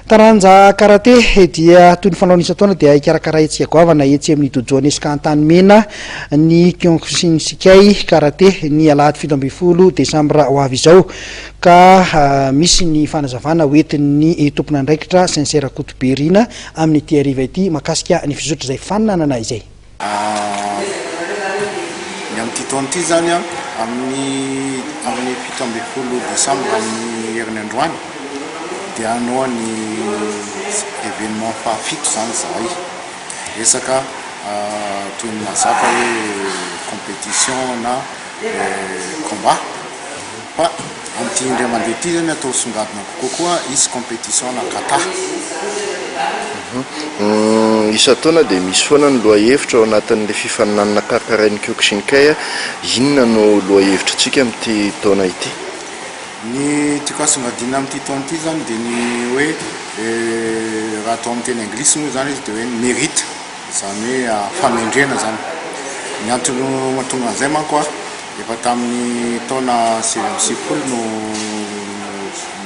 Taranja karate dia toy ny fanaony isan-taona dia ikarakarantsika goavana etsy amin'ny dojo Nesca Antanimena ny Kyokushin Shikai Karate ny alahady fito ambin'ny folo desambra ho avy izao ka misy ny fanazavana ho entin'ny tompon'andraikitra Saint Cyr Rakotoberina amin'ity hariva ity makasika ny fizotry izay fananana izay. Ny amin'ity taona ity izany, amin'ny amin'ny fito ambin'ny folo desambra amin'ny herin'ny androany dia hanao ny événement fahafito izany izahay. Resaka toy ny mahazatra hoe compétition na combat. Fa amin'ity indray mandeha ity zany atao songadina kokoa koa is competition na kata. Isan-taona dia misy foana ny lohahevitra ao anatin'ilay fifaninanana karakarain'ny Kyokushinkai. Inona no lohahevitr'antsika amin'ity taona ity? Ny tiako hasongadina amin'ity taona ity zany dia ny hoe raha atao amin'ny teny anglisy moa zany izy dia hoe ny mérite. Izany hoe fanendrena izany. Ny antony mahatonga an'izay manko, efa tamin'ny taona sivy amby sivifolo no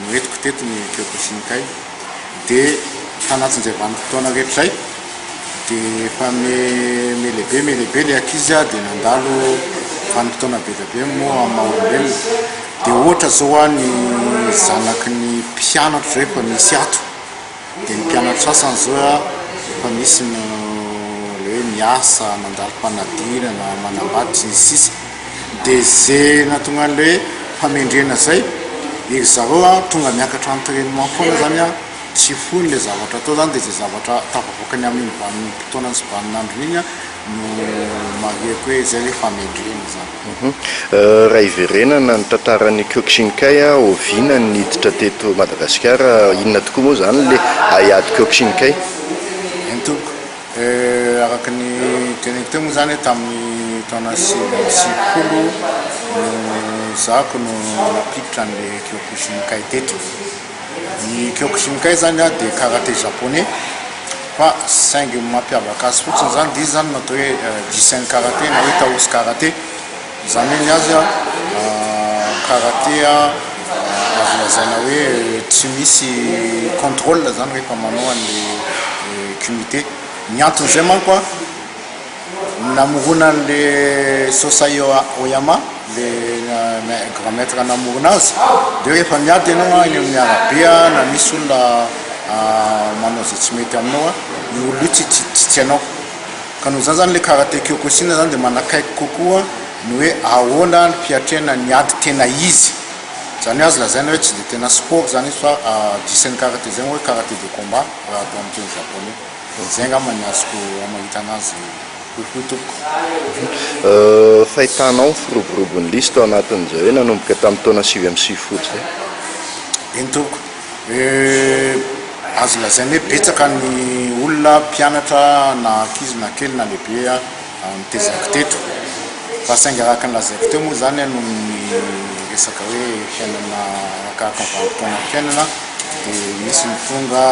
noentiko teto ny Kyokushin Kai, dia tanatin'izay vanim-potoana rehetra izay dia efa miha-lehibe miha-lehibe ilay ankizy dia nandalo vanim-potoana be dia be moa amin'ny maha olombelona, dia ohatra izao ny zanaky ny mpianatra izao efa misy ato. Dia ny mpianatry sasany izao efa misy ny le hoe miasa, mandalo fanadirana, manambady sy ny sisa Dia ze nahatonga an'le hoe famendrena zay dia ry zareo tonga miakatra entrainement foana zany tsy foiny le zavatra atao zany dia ze zavatra tafavoakany amin'iny vanim-potoana sy vanin'androny iny no marihiko hoe izay hoe famendrena izany. Raha hiverenana ny tantaran'i Kyokshinkai, oviana no niditra teto Madagasikara? Inona tokoa moa izany ilay haiady Kyokshinkai? Eny tompoko, araka ny teneniko teo moa izany hoe tamin'ny taona sivy amby sivifolo no zako no nampiditra an'ilay Kyokushinkai teto. Ny Kyokushinkai zany a dia karate japonais fa saingy ny mampiavaka azy fotsiny zany dia izy zany no atao hoe jisen karate na hoe taoshi karate izany hoe ny azy a karate azo lazaina hoe tsy misy controle zany rehefa manao an'le kumite ny antony izay manko a Ny namorona an'le Sosai Oyama, le grand maitre namorona azy, de hoe efa miady enao any amin'ny arabe na misy olona manao ze tsy mety aminao a, io olona io tsy tsy anao. Ka noho izany zany le karate kyokushin zany de manakaiky kokoa ny hoe ahoana ny fiatrehana ny ady tena izy. Zany hoe azo lazaina hoe tsy de tena sport zany izy fa disan'ny karate zay moa hoe karate de combat raha atao amin'ny teny japoney. Dia izay angamba ny azoko hamahitana azy kokoa tompoko. Fahitana ao ny firoborobon'ny lisy tao anatin'izay hoe nanomboka tamin'ny taona sivy amby sivifolo izay. Eny tompoko. Azo lazaina hoe betsaka ny olona, mpianatra na ankizy na kely na lehibe, no tezako teto. Fa saingy araka ny lazaiko teo moa izany noho ny resaka hoe fiainana arakaraka ny vanim-potoanam-piainana dia misy ny tonga,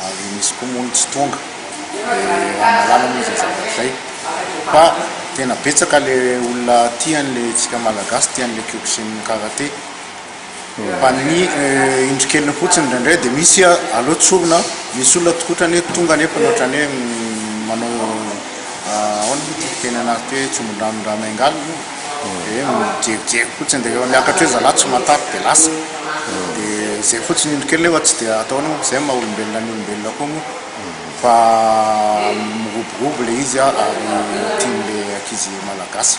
ary misy koa moa ny tsy tonga dia mahalala moa izay zavatra izay fa tena betsaka le olona tia an'ilay tsika malagasy tia an'ilay kyokushin karate fa ny indro keliny fotsiny indraindray dia misy aleo tsorina misy olona tikotrany hoe tonga nefa ohatran'ny hoe manao ahoana moa ity fiteny anazy ity hoe tsombin-drano ny rà miangalina dia mijery fotsiny dia rehefa miakatra eo zalahy tsy matavy dia lasa dia zay fotsiny indro kely nefa tsy dia atao anaho zay maha olombelona ny olombelona koa moa fa miroborobo le izy ary tian'le ankizy malagasy